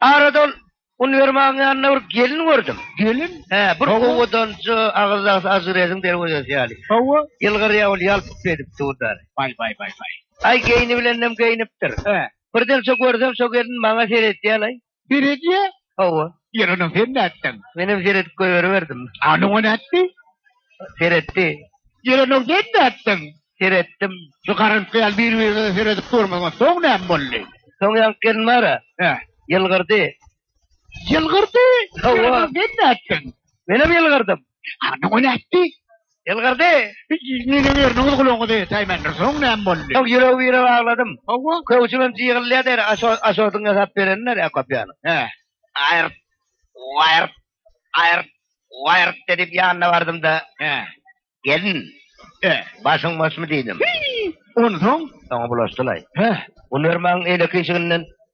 Aradan uniwermagyň ýanynda bir gelin gördüm. Gelin? He, bir Hawa. owadanjy, agyzdaky azyreziň derwezesi ýaly. Hawa. Ýylgyrýar ol ýalpyp gelip durlar. Baý, baý, baý, baý. Aý, geýnibilenem geýnipdir. He. Birden şo görsem, şo gelin maňa seretýär-laý. Seredýä? Hawa. Ýeri onuň sen nätseň? Menem seredip goýberiberdim. Ana o nätdi? Seretdi. Ýeri onuň sen nätseň? Seretdim. Şu garyndyşy ýaly bir-biriňize seredip durmagyň soň näme boldy? Soň ýaňky gelin bar-a. Hä. Ýylgyrdy. Ýylgyrdy? Hawa. Ýeri onuň sen nätseň? Menem ýylgyrdym. Hany o nätdi? Ýylgyrdy. Meniň ýeriniň gulagyna degsäýmendir. Soň näme boldy? Soň ýüregi birek agladym. Hawa. Köwşümem jygyrylýar der. Aşo, aşodyň ýasap berenini der kopýany. Hä. Aýryp, waýryp, aýryp, waýryp diýip ýanyna bardym-da. Hä. Gelin. Hä. Başyň boşmy diýdim. Hyý! Onsoň? Soňy bulaşdylaý. Hä. Unermaň eýleki işiginden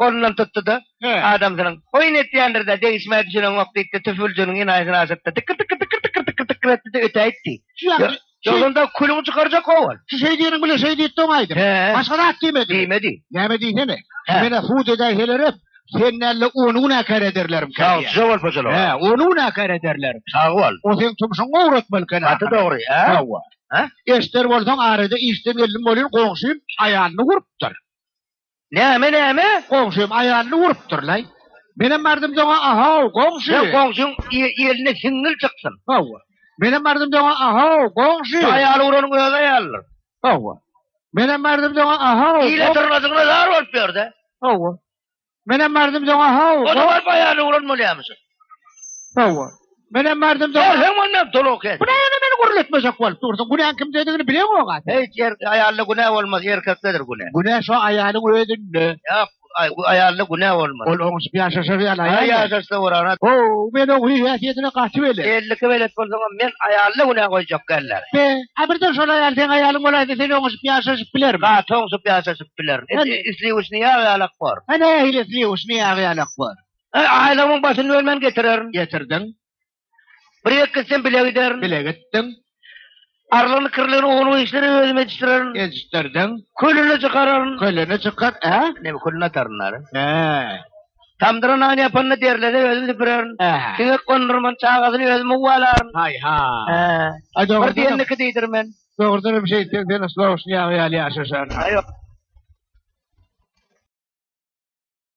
Golundan tutdy-da, adamsynyň, Oýun etýändir-dä, degişmä düşüneňok, diýipdi, tüpüljiniň enaýysyny aşyrtdy. Dykkyr-dykkyr-dykkyr-dykkyr-dykkyr-dykkyr etdi-de öte aýtdy. Ýolunda külüňi çykarjak ho-ol. Şu şeý diýeniň bilen şeý diýdi-de oňa aýdyp. Başga zat diýmedimi? Diýmedi. Näme diýsene, menä sud edäýselerem, sen däl-de ony günäkär ederlermkä diýýär. Sagja bol, Poçolow. Hä, ony günäkär ederler. Sag bol. O seň tumşuňy owratmaly ekeni ahyry. Gaty dogry, hä? Hawa. Eşder bolsaň, arada işden geldim welin, goňşym aýalyny urupdyr. Näme näme? Goňşym aýalyny urupdyrlaý. Menem bardym doňa ahow, goňşy. Sen goňşyň ýeline siňňil çyksyn. Hawa. Menem bardym doňa ahow, goňşy. Şu aýaly uranyň öz aýalydyr. Hawa. Menem bardym doňa ahow. Ile dyrnadygyna zar bolup ýör-dä. Hawa. Menem bardym doňa ahow. Ony baryp aýalyny uran bolýamyşyn. Hawa. Men hem bardym da. Sen onda dolok et. Bu ne yani beni gürletmejek bolup dursun. Günäň kimdedigini bileň oňa. Hiç yer aýalda günä bolmaz, erkekdedir günä. Günä şu aýalyň özünde. Ýok, aýalda günä bolmaz. Ol oňuşyp ýaşaşa bir ýaly aýal. Ýaşaşsa bolara. O, men oň häsiýetine gaty belet. Elliki belet bolsaňam men aýalda günä goýjak däldir. Be, a birden şol aýal seň aýalyň bolaýsa sen oňuşyp ýaşaşyp bilermiň? Gaty oňuşyp ýaşaşyp bilerin. Isliwişni ýagy ýalak bor. Hany, isliwişni ýagy ýalak bor. E, aýlawyň başyny ölmen getirerin. Getirdiň. Bir ýek gitsin bile giderin. Bile gitdiň. Arlyny kirlini owunyň işleri özüm edişdirerin. Edişdirdiň. Kölüni çykararyn. Kölüni çykar, e? Ne kölüni ataryn nara. E. Tamdyra nan ýapanda derlede özüm süpürerin. E. Siňek gondurman çagasyny özüm uwalaryn. Haý ha. E. Aý dogry. Bir diýenliki diýdir men. Dogrudan hem şeýt sen sen slowşny ýaly ýaly ýaşaşar. Aý ýok.